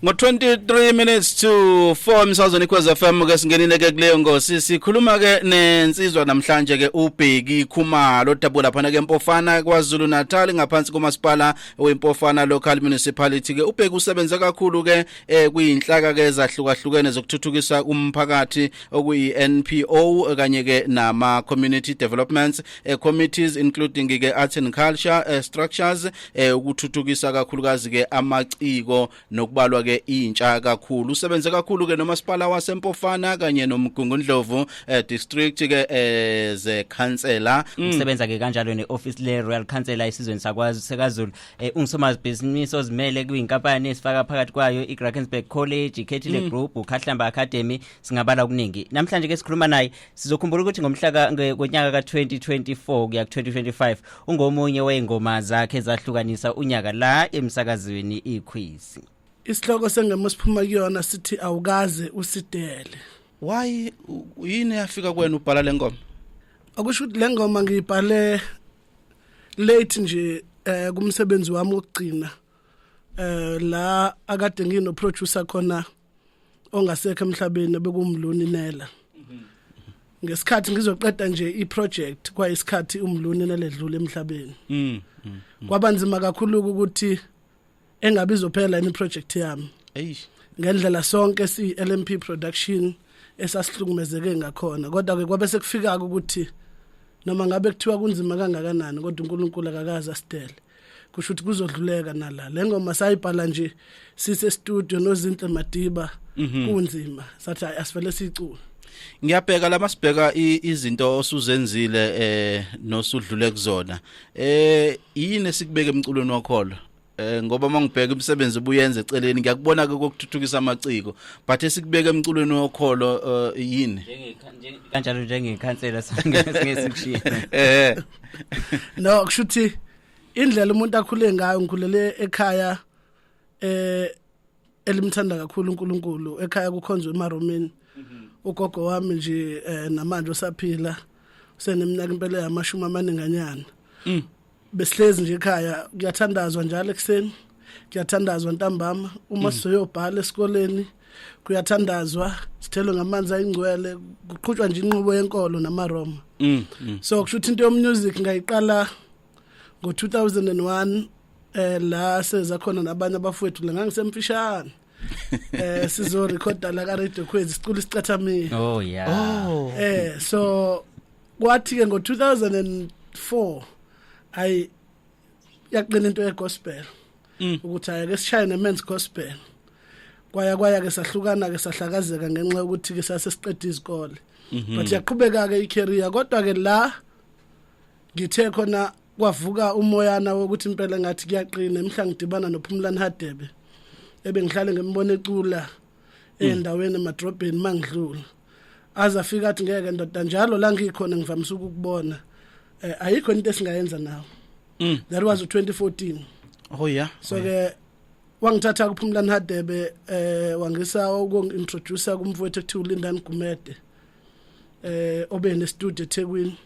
ngo-23 minutes to 4 emsazweni ikhwez f m ke singenile ke kuleyo ngosi sikhuluma ke nensizwa namhlanje ke ubheki khumalo odabuka laphana ke mpofana kwazulu natal ngaphansi komasipala wempofana local municipality ke ubheki usebenze kakhulu ke eh, kuyinhlaka ke ezahlukahlukene zokuthuthukisa umphakathi okuyi-npo kanye ke nama-community developments eh, committees including ke arts and culture eh, structures eh ukuthuthukisa kakhulukazi ke amaciko nokubalwa ke intsha kakhulu usebenze kakhulu ke nomasipala wasempofana kanye nomgungundlovu eh, district ke eh, ze councillor mm. usebenza ke kanjalo ne office le Royal Council esizweni sakwazi sekaZulu eh, ungusomabhizinisi ozimele kwinkampani esifaka phakathi kwayo iGrakensberg College iKhethile mm. Group uKhahlamba Academy singabala okuningi namhlanje ke sikhuluma naye sizokhumbula ukuthi ngomhlaka ngonyaka ka-2024 kuya ku-2025 ungomunye wey'ngoma zakhe ezahlukanisa unyaka la emsakazweni ikhwisi isihloko sengoma esiphuma kuyona sithi awukaze usidele why yini yafika kwena ubhala le ngoma akusho ukuthi le ngoma ngiyibhale late nje eh kumsebenzi wami wokugcina eh la akade ngino producer khona ongasekho emhlabeni bekumluni nela ngesikhathi ngizoqeda nje iproject kwayisikhathi umluni neledlule emhlabeni mm, mm, mm. kwabanzima kakhulu ukuthi engabe izophela yini iproject yami eish ngendlela sonke si LMP production esasihlukumezeke ngakhona kodwa ke kwabe sekufika ukuthi noma ngabe kuthiwa kunzima kangakanani kodwa uNkulunkulu akakazi asidele kusho ukuthi kuzodluleka nala le ngoma sayibhala nje sise studio nozinhle madiba mhm. kunzima sathi asivele sicule ngiyabheka lama sibheka izinto osuzenzile eh nosudlule kuzona eh yini esikubeka emculweni wakholo eh ngoba mangibheka imisebenzi obuyenza eceleni ngiyakubona ke kokuthuthukisa amaciko but esikubeka emculweni wokholo eh, yini kanjalo njengekhansela singesikushiya eh no kushuthi indlela umuntu akhule ngayo ngikhulele ekhaya eh elimthanda kakhulu uNkulunkulu ekhaya kukhonzwe emaromini mhm. ugogo wami nje eh, namanje usaphila useneminyaka impela yamashumi amaninganyana mm. besihlezi nje ekhaya kuyathandazwa njalo ekuseni kuyathandazwa ntambama uma mm. sizoyobhala esikoleni kuyathandazwa sithelwe ngamanzi ayingcwele kuqhutshwa nje inqubo yenkolo namaroma mm, mm. so kusho ukuthi into yomusic ngayiqala ngo-2001 eh la seza khona nabanye abafowethu la ngangisemfishane eh sizo recorda la ka radio khwezi sicula isicathamile oh yeah oh eh so kwathi ke ngo 2004 ay yaqina into ye gospel mm. ukuthi ayake sishaye ne men's gospel kwaya kwaya ke sahlukana ke sahlakazeka ngenxa yokuthi ke sase siqeda izikole mhm. but yaqhubeka ke icareer kodwa ke la ngithe khona kwavuka umoyana wokuthi impela ngathi kuyaqina emhla ngidibana nophumlani hadebe ebengihlale ngembona ecula endaweni emadrobheni mangidlula aze afika athi ngeke ndoda njalo la ngikhona ngivamisa ukukubona eh, ayikho into esingayenza nawo mm. that was 2014 oh yeah so ke yeah. wangithatha kuphumlani hadebe eh wangisa ukungintroduce kumfowethu ekuthiwa ulindani gumede eh obe ne studio eThekwini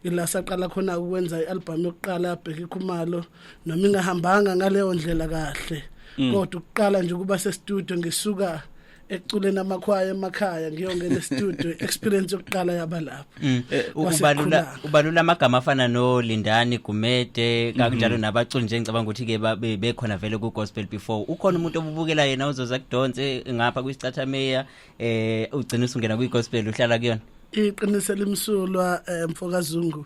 ila saqala khona ukwenza i-album yokuqala yabheke khumalo noma ingahambanga ngaleyo ndlela kahle mm. kodwa ukuqala nje ukuba sestudio ngisuka ekuculeni amakhwaya emakhaya ngiyongena estudio experience yokuqala yaba lapho mm. eh, ubalula ubalula amagama afana no Lindani Gumede kanjalo mm-hmm. nabaculi nje ngicabanga ukuthi ke bekhona vele ku gospel before ukhona umuntu obubukela yena uzoza kudonse ngapha kwisicathameya eh ugcina usungena kwi gospel uhlala kuyona iqiniso limsulwa eh, mfokazungu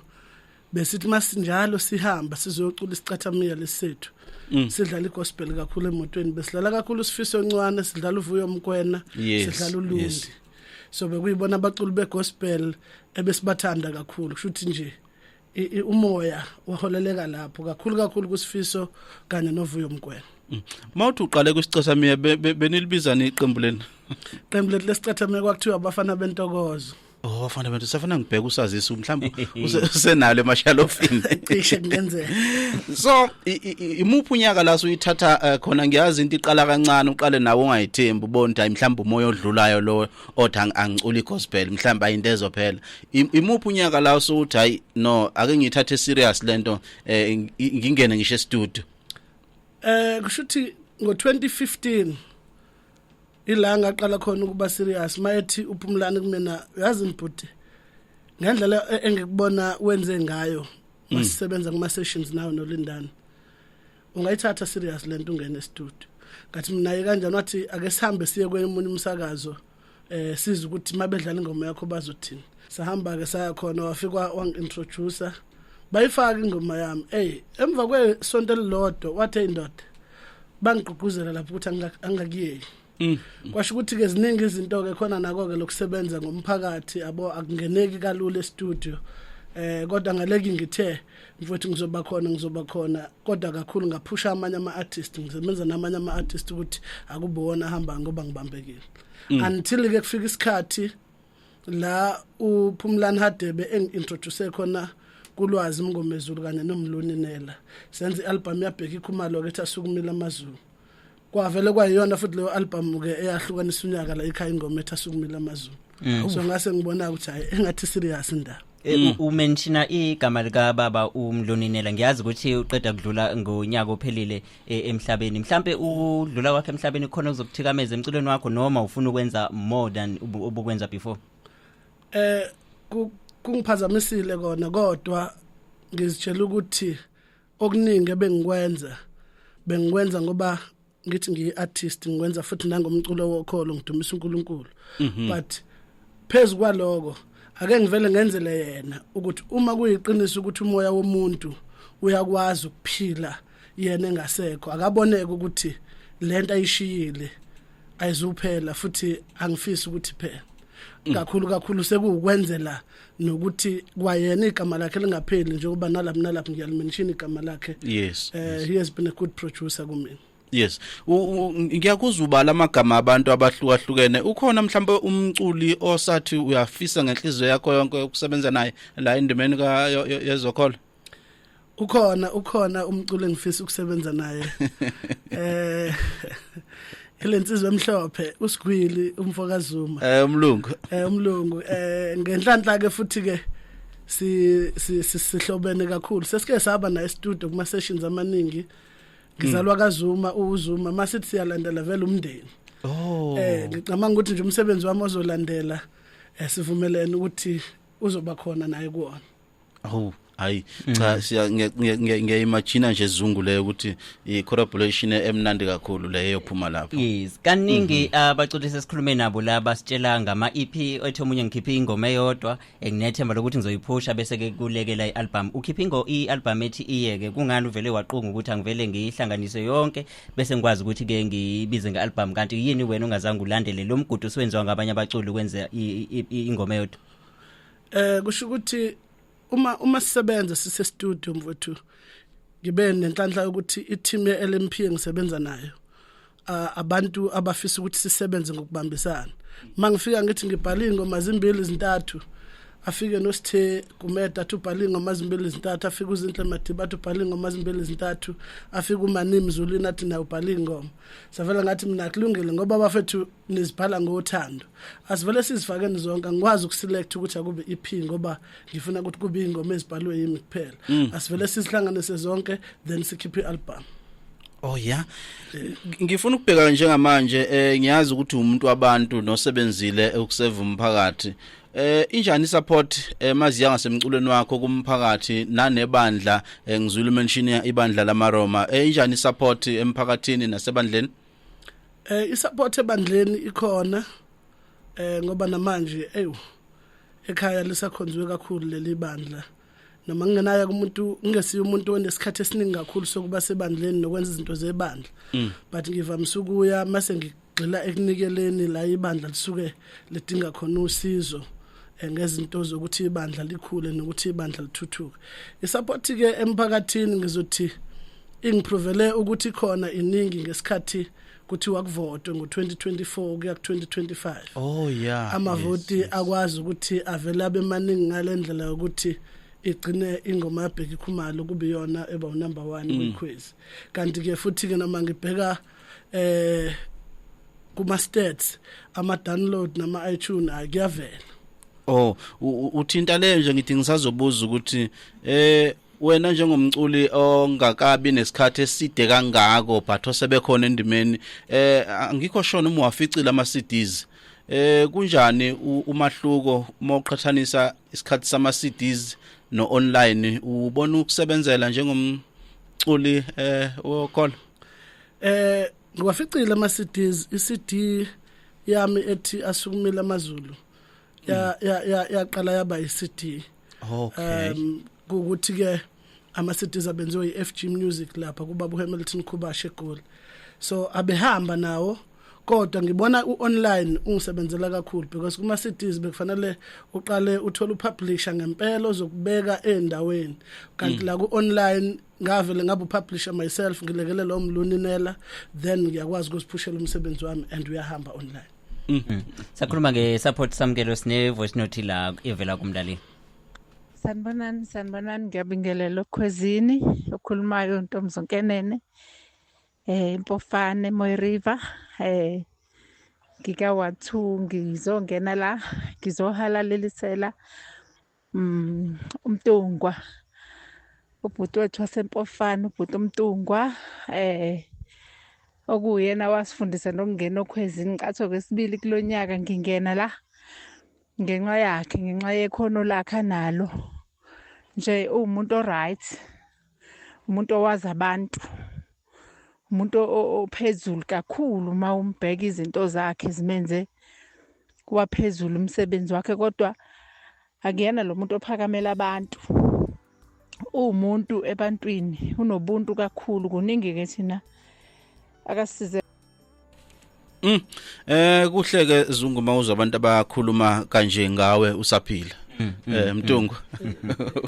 besithi masinjalo sihamba sizocula isicathamile lesethu mm. sidlala igospel kakhulu emotweni besidlala kakhulu sifiso ncwane sidlala uvuyo mkwena sidlala ulundi so bekuyibona abaculi begospel ebesibathanda kakhulu kushuthi nje umoya waholeleka lapho kakhulu kakhulu kusifiso kanye novuyo mgwena mm. mawuthi uqale kwisicathamia benilibiza niqembu leni qembu lethu lesicathamia kwakuthiwa abafana bentokozo Oh bafana bethu safuna ngibheka usazisa mhlawumbe usenalo emashalofini cishe kungenzeka So imuphi unyaka la uyithatha eh, khona ngiyazi into iqala kancane uqale nawe ungayithembi ubona mhlawumbe umoya odlulayo lo othi angiculi gospel mhlawumbe ayinto ezophela imuphi unyaka la usuthi hayi no ake ngiyithathe serious lento eh, ngingene ngisho estudio eh kusho ukuthi ngo-2015 ila ngaqala khona ukuba serious mayethi uphumlani kumina yazi mbhuti ngendlela e-, engikubona wenze ngayo mm. masisebenza kuma sessions nayo nolindana ungayithatha serious lento ungena estudio ngathi mina ye kanjani wathi ake sihambe siye kwemunye umsakazo eh siza ukuthi mabedlala ingoma yakho bazothini sahamba ke saya khona wafika wangintroducer bayifaka ingoma yami hey emva kwesonto elilodwa wathe indoda bangigqugquzela lapho ukuthi angakuyeki Mm. kwasho ukuthi ke ziningi izinto ke khona nako ke lokusebenza ngomphakathi abo akungeneki kalula e-studio eh kodwa ngaleki ngithe mfowethu ngizoba khona ngizoba khona kodwa kakhulu ngaphusha amanye ama artist ngisebenza namanye ama artist ukuthi akubona hamba ngoba ngibambekile mm. until ke kufika isikhathi la uphumlani hadebe engintroduce khona kulwazi mngomezulu kanye nomluni nela senza ialbum yabheka ikhumalo ke thasukumile amazulu kwavele kwayiyona futhi leyo album ke eyahlukanisa unyaka la ikhaya ingoma ethi asukumile amazulu mm. so ngase ngibona ukuthi hayi engathi serious indaba eh, mm. umenshina igama lika baba umloninela ngiyazi ukuthi uqeda kudlula ngonyaka ophelile e, emhlabeni mhlambe udlula kwakhe emhlabeni khona uzokuthikameza emculweni wakho noma ufuna ukwenza more than ubukwenza before eh kungiphazamisile kona kodwa ngizitshela ukuthi okuningi ebengikwenza bengikwenza ngoba ngithi ngiyi-artist ngikwenza futhi nangomculo wokholo ngidumisa uNkulunkulu mhm. but phezu kwaloko ake ngivele ngenzele yena ukuthi uma kuyiqiniso ukuthi umoya womuntu uyakwazi ukuphila yena engasekho akaboneke ukuthi lento ayishiyile ayizuphela futhi angifisi ukuthi phela mm. kakhulu kakhulu sekuwukwenzela nokuthi kwayena igama lakhe lingapheli njengoba nalapha nalapha ngiyalimenshini igama lakhe yes, uh, yes he has been a good producer kumina Yes. Ngiyakuzwa ubala amagama abantu abahlukahlukene. Ukhona mhlawumbe umculi osathi uyafisa ngenhliziyo yakho yonke ukusebenza naye la endimeni ka yezokholo. ukhona ukhona umculo engifisa ukusebenza naye eh elensizwe emhlophe usigwili umfoka Zuma eh umlungu eh umlungu eh ngenhlanhla ke futhi ke si sihlobene kakhulu sesike saba na studio kuma sessions amaningi ngizalwa mm. kaZuma uZuma masithi siyalandela vele umndeni oh eh ngicabanga ukuthi nje umsebenzi wami ozolandela eh, sivumelene ukuthi uzoba khona naye kuona awu hayi mm. cha siya ngiyayimagina nje izungu leyo ukuthi i collaboration emnandi kakhulu leyo phuma lapho yes kaningi mm-hmm. abaculisi esikhulume nabo la basitshela ngama EP ethi omunye ngikhiphe ingoma eyodwa enginethemba lokuthi ngizoyiphusha bese ke kulekela ialbum ukhiphe ingo ialbum ethi iyeke kungani uvele waqunga ukuthi angivele ngiyihlanganise yonke bese ngikwazi ukuthi ke ngibize ngealbum kanti yini wena ungazange ulandele lo mgudu siwenziwa ngabanye abaculi ukwenza ingoma eyodwa eh kusho ukuthi uma uma sisebenza sise studio mfowethu ngibe nenhlanhla ukuthi i-team ye-LMP engisebenza nayo uh, abantu abafisa ukuthi sisebenze ngokubambisana mangifika ngithi ngibhala ingoma zimbili izintathu afike nosithe kumeda athi ubhala ingoma zimbili izintathu afike uzinhle madiba athi ubhala ingoma zimbili izintathu afike umanimi zulwini athi naye ubhala ingoma savela ngathi mina kulungile ngoba bafethu niziphala ngothando asivele sizifakeni zonke angikwazi ukuselect ukuthi akube EP ngoba ngifuna ukuthi kube ingoma ezibhalwe yimi kuphela mm. asivele sizihlanganise zonke then sikhiphe ialbum Oh yeah. Ngifuna ukubheka njengamanje eh ngiyazi ukuthi umuntu wabantu nosebenzile ukuseva umphakathi Eh injani support eh maziya ngasemculweni wakho kumphakathi nanebandla eh, ngizwile mention ibandla lamaRoma eh injani support emphakathini nasebandleni Eh isupport ebandleni ikhona eh ngoba namanje eyu ekhaya lisakhonziwe kakhulu leli bandla noma ngingenayo kumuntu ngingesiyo umuntu onesikhathi esiningi kakhulu sokuba sebandleni nokwenza izinto zebandla mm. but ngivamise ukuya mase gxila ekunikeleni la ibandla lisuke lidinga khona usizo eh, ngezinto zokuthi ibandla likhule nokuthi ibandla lithuthuke isupport ke emphakathini ngizothi ingiprovele ukuthi khona iningi ngesikhathi kuthi wakuvotwe ngo2024 kuya ku2025 oh yeah amavoti yes, yes. akwazi ukuthi avele abe maningi ngalendlela yokuthi igcine ingoma yabheka ikhumalo kube yona eba number 1 mm. kwikhwezi kanti ke futhi ke noma ngibheka eh kuma stats ama download nama iTunes akuyavela oh uthinta le nje ngithi ngisazobuza ukuthi eh wena njengomculi ongakabi nesikhathi eside kangako but osebekhona endimeni eh angikho shona uma waficile ama CDs eh kunjani umahluko uma uqhathanisa isikhathi sama CDs no online ubona ukusebenzela njengomculi eh wokhola eh ngiwaficile ama CDs iCD yami ethi asukumile amazulu ya mm. ya ya yaqala yaba iCD okay um ukuthi ke ama CDs abenziwe iFG Music lapha kuba uHamilton Khubashe Goal so abehamba nawo kodwa ngibona uonline ungisebenzela kakhulu because kuma cities bekufanele uqale uthole upublisher ngempela ozokubeka endaweni kanti mm. la kuonline ngavele ngabe upublisher myself ngilekelela umluninela then ngiyakwazi ukuziphushela umsebenzi wami and uyahamba online mm. mm. sakhuluma nge support samkelo sine voice note la evela kumlaleli sanibonani sanibonani ngiyabingelela okhwezini okhulumayo ntombizonkenene eh impofane moy river eh ngika wathu ngizongena la ngizohalalelisela Mm, umtungwa ubhuti wethu wasempofana ubhuti umtungwa eh okuyena wasifundisa nokungena okhwezi ngicatho kwesibili kulo nyaka ngingena la ngenxa yakhe ngenxa yekhono lakhe analo nje uwumuntu oright umuntu owazi abantu umuntu ophezulu kakhulu uma umbheka izinto zakhe zimenze waphezulu umsebenzi wakhe kodwa akuyena lo muntu ophakamela abantu uwumuntu ebantwini unobuntu kakhulu kuningi-ke thina akasize Mm. Eh kuhle ke Zungu mawuza abantu abakhuluma kanje ngawe usaphila. Mm, mm, eh Mtungu.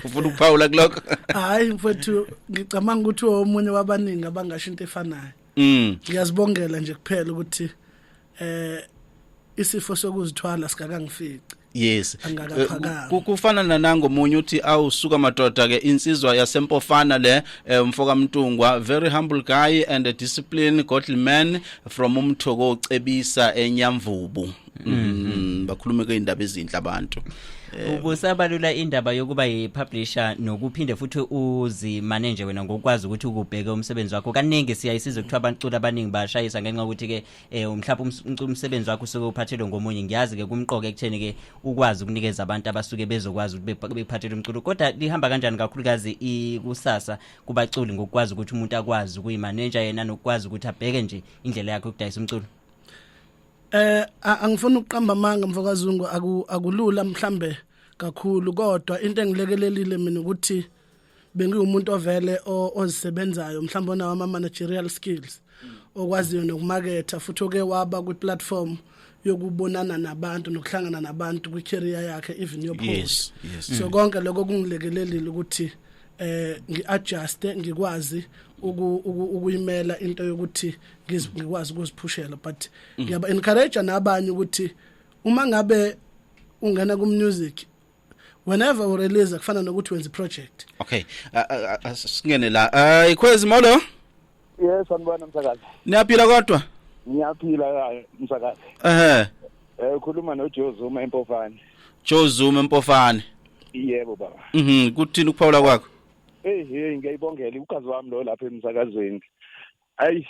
Ufuna ukuphawula kuloko? Hayi mfowethu ngicabanga ukuthi omunye wabaningi abangasho into efanayo. Mm. Ngiyazibongela nje kuphela ukuthi eh isifo sokuzithwala sikakangifiki. yes angakaphakami kufana nanango munye uthi awusuka madoda ke insizwa yasempofana le umfoka mntungwa very humble guy and a discipline godly man from umthoko ocebisa enyamvubu mm bakhulume ke indaba ezinhle abantu ukusabalula indaba yokuba yipublisher nokuphinde futhi uzimane nje wena ngokwazi ukuthi ukubheke umsebenzi wakho kaningi siyayisiza ukuthi abaculi abaningi bashayisa ngenxa yokuthi ke eh mhlawumbe um-, umsebenzi wakho usuke uphathelwe ngomunye ngiyazi ke kumqoka ekutheni ke ukwazi ukunikeza abantu abasuke bezokwazi ukuthi bephathelwe umculo kodwa lihamba kanjani kakhulukazi ikusasa kubaculi ngokwazi ukuthi umuntu akwazi ukuyimaneja yena nokwazi ukuthi abheke nje indlela yakhe ukudayisa umculo eh angifuni ukuqamba amanga mfokazungu akulula mhlambe kakhulu kodwa into engilekelelile mina ukuthi bengiwumuntu ovele ozisebenzayo mhlawumbe onawo ama-managerial skills okwaziyo nokumaketha futhi oke waba kwi-platform yokubonana nabantu nokuhlangana nabantu kwi-career yakhe even yopost yes, yes. so mm. konke lokho kungilekelelile ukuthi eh ngiadjuste ngikwazi ukuyimela into yokuthi ngikwazi ukuziphushela but mm. ngiyaba encourage nabanye ukuthi uma ngabe ungena ku music whenever u release kufana nokuthi wenza project okay singene la uh, ikhwezi molo yes sanibona msakazi niyaphila kodwa ngiyaphila msakazi ehe eh ukhuluma no Joe Zuma empofane Joe Zuma empofane yebo baba mhm kuthini ukuphawula kwakho hey hey ngiyayibongela ugazi wami lo lapha emsakazweni ayi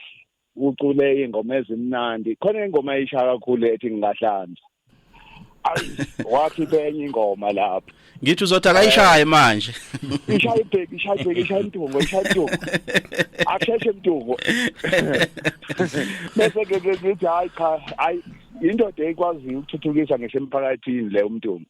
kucule ingoma ezimnandi khona ingoma eyishaya kakhulu ethi ngingahlanza ayi wathi benye ingoma lapho ngithi uzothi akayishaye manje ishaya ibheki ishaya ibheki ishaya intungo ishaya intungo akusheshe intungo bese ke ngithi hayi cha hayi indoda ekwaziyo ukuthuthukisa ngisho emphakathini le umntungo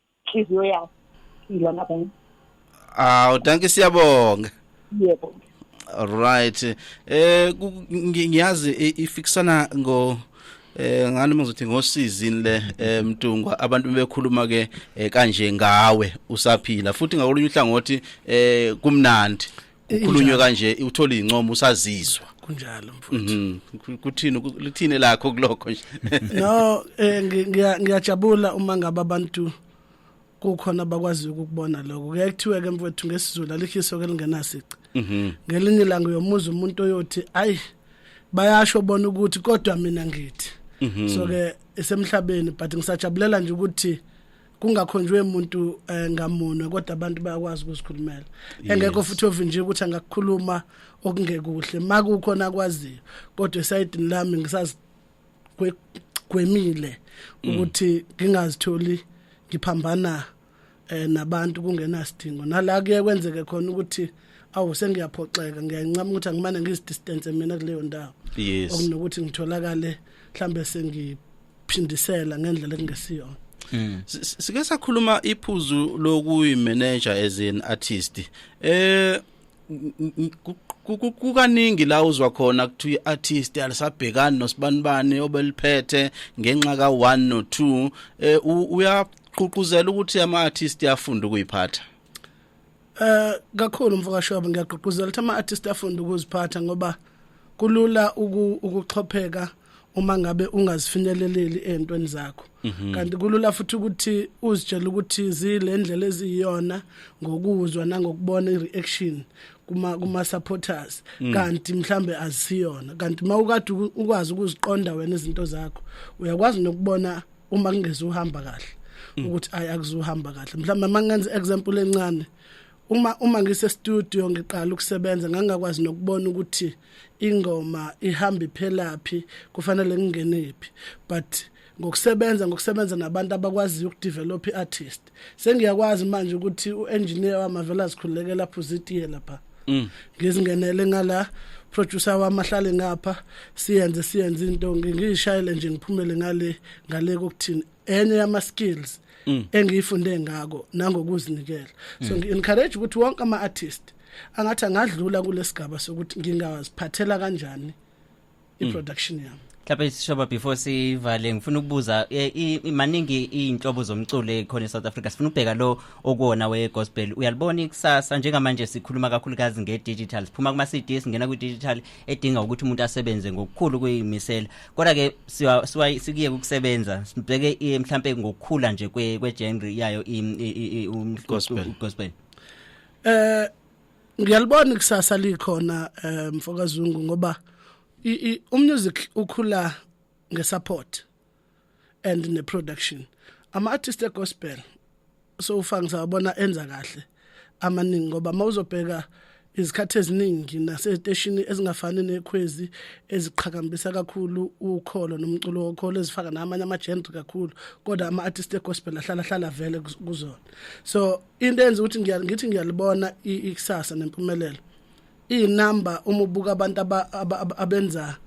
inhliziyo yakho ila ngabanye awu danki siyabonga yebo right eh ngiyazi ifikisana ngo eh ngani muzothi ngosizini le eh, mtungwa abantu bekhuluma ke eh, kanje ngawe usaphila futhi ngakolunye uhlangothi eh kumnandi ukhulunywe kanje uthola incomo usazizwa kunjalo mfowethu mhm. kuthini lithini lakho kulokho nje no eh, ngiyajabula uma ngaba abantu kukhona abakwazi ukubona lokho kuyaye kuthiwe ke mfowethu ngesizulu alihiso ke lingenasici mhm. ngelinye ilanga uyomuza umuntu oyothi ayi bayasho bona ukuthi kodwa mina ngithi mhm. so ke esemhlabeni but ngisajabulela nje ukuthi kungakhonjwe umuntu eh, ngamunwe kodwa abantu bayakwazi ukuzikhulumela engekho futhi ovinjiwe ukuthi angakukhuluma okungekuhle makukhona akwaziyo kodwa esayidini lami ngisazigwemile mm. ukuthi ngingazitholi ngiphambana eh nabantu kungenasidingo nala kuye kwenzeke khona ukuthi awu sengiyaphoxeka ngiyancama ukuthi angimane ngizidistance mina kuleyo ndawo yes okunokuthi ngitholakale mhlambe sengi phindisela ngendlela ekungesiyona Mm. Sike sakhuluma iphuzu lokuyi manager as an artist. Eh kukaningi la uzwa khona kuthi iartist alisabhekani nosibanibani obeliphethe ngenxa ka 1 no 2 eh uyaququzela ukuthi ama artist yafunda ukuyiphatha Eh kakhulu mfokashoba ngiyagqugquzela ukuthi ama-artist afunde ukuziphatha ngoba kulula ukuxhopheka uma ngabe ungazifinyeleleli ezintweni zakho mhm. kanti kulula futhi ukuthi uzitshele ukuthi zilendlela eziyiyona ngokuzwa nangokubona ireaction kuma kuma supporters mm. kanti mhlambe azisiyona kanti mawukade ukwazi ukuziqonda wena izinto zakho uyakwazi nokubona uma kungezuhamba kahle mm. ukuthi ayi akuzuhamba kahle mhlawumbe mangenza example encane uma uma ngise studio ngiqala ukusebenza ngangakwazi nokubona ukuthi ingoma ihamba iphelaphi kufanele ngingenephi but ngokusebenza ngokusebenza nabantu abakwaziyo ukudevelop iartist sengiyakwazi manje ukuthi uengineer wamavela sikhulekela phuzitiye lapha mm. ngizingenele ngala producer wami ahlale ngapha siyenze siyenze into ngishayele nje ngiphumele ngale ngale kokuthini enye yama skills mm. engiyifunde ngako nangokuzinikela so mm. ngi encourage ukuthi wonke ama artist angathi angadlula kulesigaba sokuthi ngingawaziphathela kanjani iproduction mm. yami mhlawumbe sishoba before sivale ngifuna ukubuza eh, maningi iy'nhlobo zomculo ekhona e-south africa sifuna ukubheka lo okuwona we-gospel uyalibona ikusasa njengamanje sikhuluma kakhulukazi nge-digital siphuma kuma-cd singena kwi-digital edinga ukuthi umuntu asebenze ngokukhulu kuyimisela kodwa-ke sikuye kukusebenza sibheke eh, mhlawumbe ngokukhula nje kwe-genre yayo gospel um eh, ngiyalibona ikusasa likhona eh, mfokazungu ngoba umusic ukhula ngesupport and ne production ama artist egospel so ufanga sabona enza kahle amaningi ngoba mawuzobheka izikhathi eziningi naseteshini ezingafani nekhwezi eziqhakambisa kakhulu ukholo nomculo wokholo ezifaka namanye ama-genre kakhulu kodwa ama-artist egospel ahlala hlala vele kuzona so into enza ukuthi ngithi ngiyalibona ikusasa nempumelelo iyinamba uma ubuka abantu abenza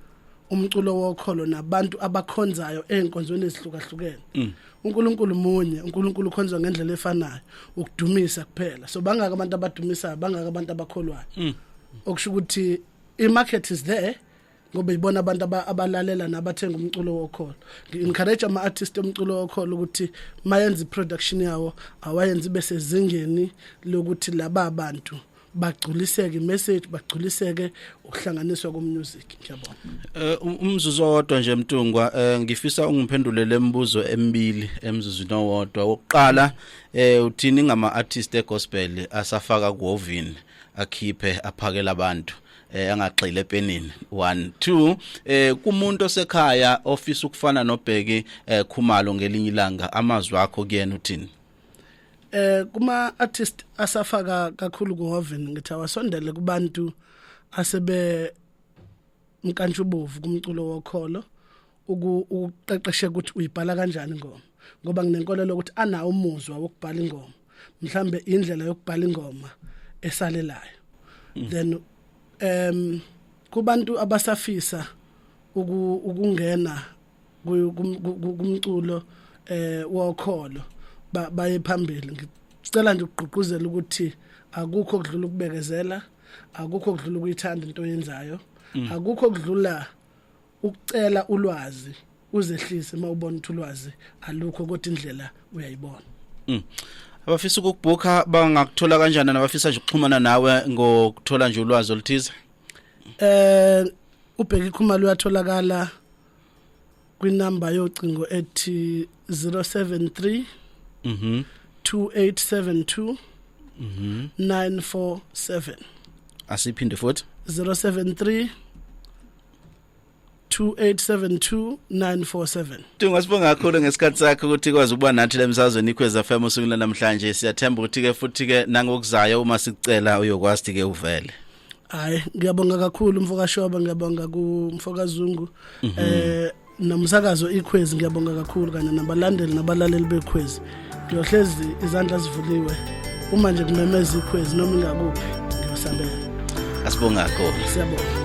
umculo wokholo nabantu abakhonzayo ezinkonzweni ezihlukahlukene mm. uNkulunkulu munye uNkulunkulu ukhonzwa ngendlela efanayo ukudumisa kuphela so bangaka abantu abadumisayo bangaka abantu abakholwayo mm. okusho ukuthi i market is there ngoba ibona abantu abalalela nabathenga umculo wokholo ngi-encourage ama-artist omculo wokholo ukuthi mayenza i-production yawo awayenze ibe sezingeni lokuthi laba bantu bagculiseke message bagculiseke ukuhlanganiswa komusic ngiyabona eh, um, umzuzu owodwa nje mtungwa eh, ngifisa ungiphendulele imibuzo emibili emzuzwini owodwa wokuqala eh, uthini ngama artist egospel asafaka kuovini akhiphe aphakela abantu eh angagxile epenini 1 2 eh kumuntu osekhaya ofisa ukufana nobheki eh khumalo ngelinye ilanga amazwi akho kuyena uthini eh kuma artist asafaka kakhulu ku Hoven ngithi awasondele kubantu asebe mkantshubovu kumculo wokholo ukuqeqeshe ukuthi uyibhala kanjani ingoma ngoba nginenkolelo ukuthi anawo umuzwa wokubhala ingoma mhlambe indlela yokubhala ingoma esalelayo mm. then um kubantu abasafisa ukungena kumculo eh wokholo baye phambili ngicela nje ukugqugquzela ukuthi akukho kudlula ukubekezela akukho kudlula ukuyithanda into oyenzayo mm. akukho kudlula ukucela ulwazi uzehlise uma ubona ukuthi ulwazi alukho kodwa indlela uyayibona mm. abafisa ukukubhukha bangakuthola kanjani nabafisa nje ukuxhumana nawe ngokuthola nje ulwazi oluthize eh ubheka ikhumalo uyatholakala kwinamba yocingo ethi 073 mhm 2872 mhm 947 asiphinde futhi 073 0872972947 Tunga sibonga kakhulu ngesikhathi sakho ukuthi ikwazi ukuba nathi lemsazweni ikhweza FM usungula namhlanje siyathemba ukuthi ke futhi ke nangokuzayo uma sicela uyokwazi ke uvele Hayi ngiyabonga kakhulu mfoka Shoba ngiyabonga ku mfoka Zungu mhm. eh nomsakazo ikhwezi ngiyabonga kakhulu kanye nabalandeli nabalaleli bekhwezi ngiyohlezi izandla zivuliwe uma nje kumemeza ikhwezi noma ingakuphi ngiyosabela asibonga kakhulu siyabonga